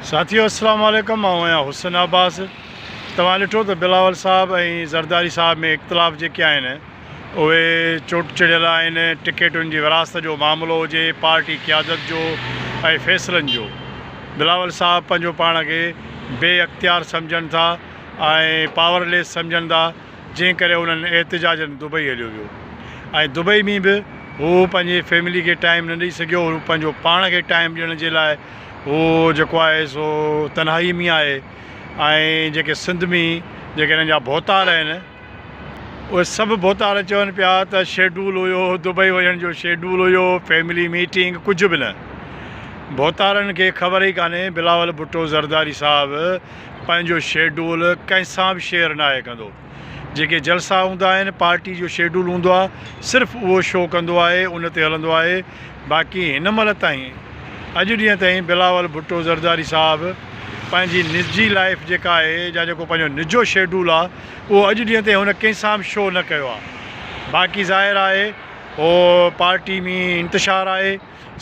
ساٿيو السلام عليڪم آئون آهيان حسن عباس توهان ڏٺو ته بلاول صاحب ۽ زرداري صاحب ۾ اختلاف جيڪي آهن اهي چوٽ چڙهيل آهن ٽڪيٽن جي ورهاست جو معاملو هجي پارٽي قيادت جو ۽ فيصلن جو بلاول صاحب پنهنجو پاڻ کي بي اختيار سمجهن ٿا ۽ پاور ليس سمجهن ٿا جنهن ڪري انهن احتجاجن دبئي هليو ويو ۽ دبئي ۾ به هو پنهنجي فيملي کي ٽائيم نه ڏئي سگهيو هو پنهنجو پاڻ کي ٽائيم ڏيڻ جي لاء هو جيڪو آهي سو تنهائي ۾ آهي ۽ جيڪي سنڌ ۾ جيڪي هنن جا ڀوتار آهن اهي سڀ ڀوتار چون پيا ته شيڊول هيو دبئي وڃڻ جو شيڊول هيو فيملي ميٽنگ ڪجهه به نه ڀوتارن کي خبر ئي ڪانهي بلاول ڀٽو زرداري صاحب پنهنجو شيڊول ڪنهن سان به شيئر ناهي ڪندو جيڪي جلسا هوندا آهن، پارٽي جو شيڊول هوندو آهي، صرف اهو شو ڪندو آهي، ان تي هلندو آهي، باقي هن مهل تائين، اڄ ڏينهن تائين بلاول ڀٽو زرداري صاحب پنهنجي نجي لائيف جيڪا آهي يا جيڪو پنهنجو نجو شيڊول آهي، اهو اڄ ڏينهن تائين هن ڪنهن سان به شو نه ڪيو آهي، باقي ظاهر آهي اهو پارٽي ۾ انتشار آهي.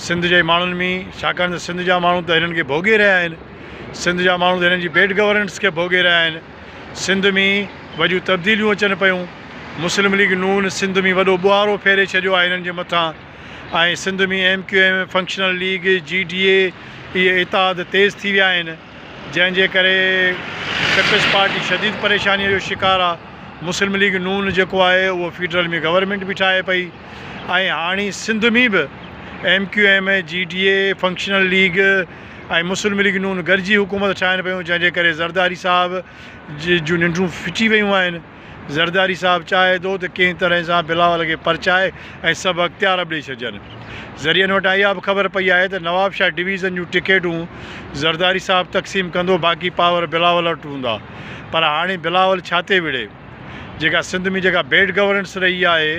سنڌ جي ماڻهن ۾ ڇاڪاڻ ته سنڌ جا ماڻهو ته هنن کي ڀوڳي رهيا آهن سنڌ جا ماڻهو ته هنن جي بيڊ گورننس کي ڀوڳي رهيا آهن سنڌ ۾ وڏيون تبديليون اچن پيون مسلم ليگ نون سنڌ ۾ وڏو ٻوهارو ڦيري ڇڏيو آهي هنن جي مٿان ۽ Sindh ۾ M Q M functional league G D A اهي اتحاد تيز ٿي ويا آهن جنهن جي ڪري پيپلز پارٽي شديد پريشانيء جو شڪار آهي مسلم ليگ نون جيڪو آهي اهو فيڊرل ۾ گورنمينٽ به ٺاهي پئي ۽ هاڻي سنڌ ۾ به M Q M, G D A, functional league ۽ Muslim League نون گڏجي حڪومت ٺاهين پيون جنهن جي ڪري زرداري صاحب جون ننڊون ڦٽي ويون آهن. زرداري صاحب چاهي ٿو ته ڪنهن طرح سان بلاول کي پرچائي ۽ سڀ اختيار به ڏئي ڇڏجن. ذريعن وٽان اها به خبر پئي آهي ته نوابشاهه ڊويزن جون ٽڪيٽون زرداري صاحب تقسيم ڪندو باقي پاور بلاول وٽ هوندا پر هاڻي بلاول ڇا تي وڙهي؟ جيڪا سنڌ ۾ جيڪا بيڊ گورننس رهي آهي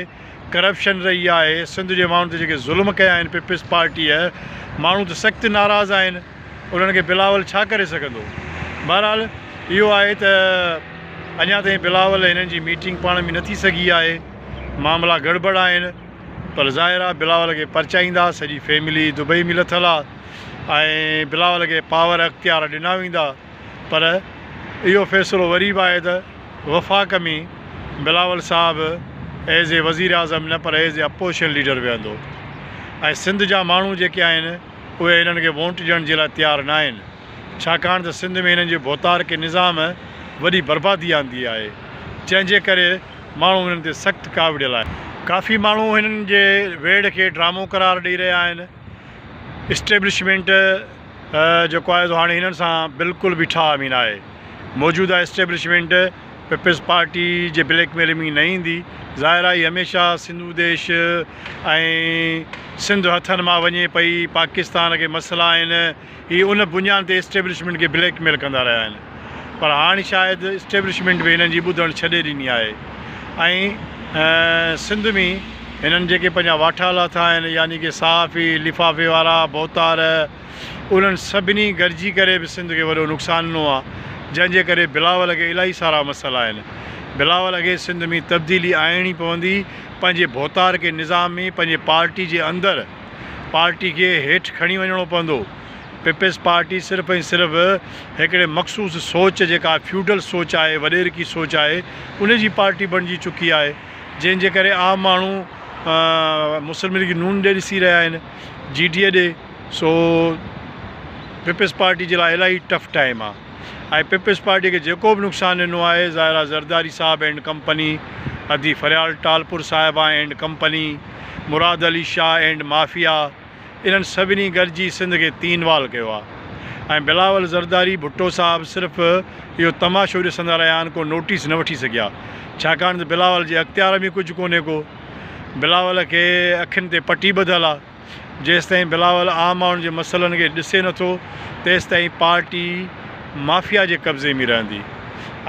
ڪرپشن رهي آهي سنڌ جي ماڻهن تي جيڪي ظلم ڪيا آهن پيپلز پارٽيء ماڻهو ته سخت ناراض آهن انهن کي بلاول ڇا ڪري سگهندو بهرحال اهو آهي ته اڃا تائين بلاول هنن جي ميٽنگ پاڻ ۾ نه ٿي سگهي آهي معاملا گڙبڙ آهن پر ظاهر آهي بلاول کي پرچائيندا سڄي فيملي دبئي ۾ لٿل آهي ۽ بلاول کي پاور اختيار ڏنا ويندا. پر اهو فيصلو وري به آهي ته وفاق ۾ بلاول صاحب ايز اي وزيراعظم نه پر ايز اي اپوزيشن ليڊر ويهندو ۽ سنڌ جا ماڻهو جيڪي آهن اهي هنن کي وونٽ ڏيڻ جي لاء تيار ناهن ڇاڪاڻ ته سنڌ ۾ هنن جي ڀوتارڪي نظام وڏي بربادي آندي آهي جنهن جي ڪري ماڻهو هنن تي سخت ڪاوڙيل آهن. ڪافي ماڻهو هنن جي ويڙهه کي ڊرامو قرار ڏئي رهيا آهن. اسٽيبلشمينٽ جيڪو آهي سو هاڻي هنن سان بلڪل به ٺاهه ۾ نه آهي، موجوده اسٽيبلشمينٽ پيپلز پارٽي جي بليڪ ميل ۾ نه ايندي، ظاهر آهي هي هميشه سنڌو ديش ۽ سنڌ هٿن مان وڃي پئي، پاڪستان کي مسئلا آهن، هي ان بنيان تي اسٽيبلشمينٽ کي بليڪ ميل ڪندا رهيا آهن پر هاڻ شايد اسٽيبلشمينٽ به هنن جي ٻڌڻ ڇڏي ڏني آهي ۽ سنڌ ۾ هنن جيڪي پنهنجا واٺا لاٿا آهن يعني ڪي صحافي لفافي وارا ڀوتار انهن سڀني گڏجي ڪري به سنڌ کي وڏو نقصان ڏنو آهي جنهن جي ڪري بلاول اڳي الاهي سارا مسئلا آهن بلاول اڳي سنڌ ۾ تبديلي آڻڻي پوندي پنهنجي ڀوتار کي نظام ۾ پنهنجي پارٽي جي اندر پارٽي کي هيٺ کڻي وڃڻو پوندو. پيپلز پارٽي صرف ۽ صرف هڪڙي مخصوص سوچ جيڪا فيوڊل سوچ آهي، وڏيرڪي سوچ آهي، ان جي پارٽي بڻجي چڪي آهي، جنهن جي ڪري عام ماڻهو مسلم ليگ نون ڏي ڏسي رهيا آهن، جي ڊي اي ڏي، سو پيپلز پارٽي جي لاء الاهي ٽف ٽائيم آ ۽ پيپلز پارٽي کي جيڪو به نقصان ڏنو آهي ظاهر آ زرداري صاحب اينڊ ڪمپني ادي فريال ٽالپر صاحبان and company. Murad Ali Shah and mafia انهن سڀني گڏجي سنڌ کي تين وال ڪيو آ ۽ بلاول زرداري ڀٽو صاحب صرف اهو تماشو ڏسندا رهيا آهن ڪو نوٽيس نه وٺي سگهيا ڇاڪاڻ ته بلاول جي اختيار ۾ ڪجهه ڪونهي ڪو بلاول کي اکين تي پٽي ٻڌل آ جيستائين بلاول عام ماڻهن جي مسئلن کي ڏسي نٿو تيستائين پارٽي مافيا جي قبضي ۾ رهندي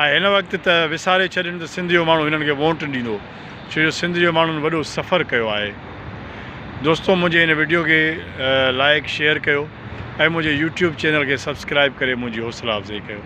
۽ هن وقت ته وساري ڇڏين ته سنڌ جو ماڻهو هنن کي وونٽ ڏيندو. ڇو جو سنڌ جو ماڻهن وڏو سفر ڪيو آهي. دوستو منهنجي هن وڊيو کي لائيڪ شيئر ڪيو ۽ منهنجي يوٽيوب چينل کي سبسڪرائيب ڪري منهنجي حوصلا افزائي ڪيو.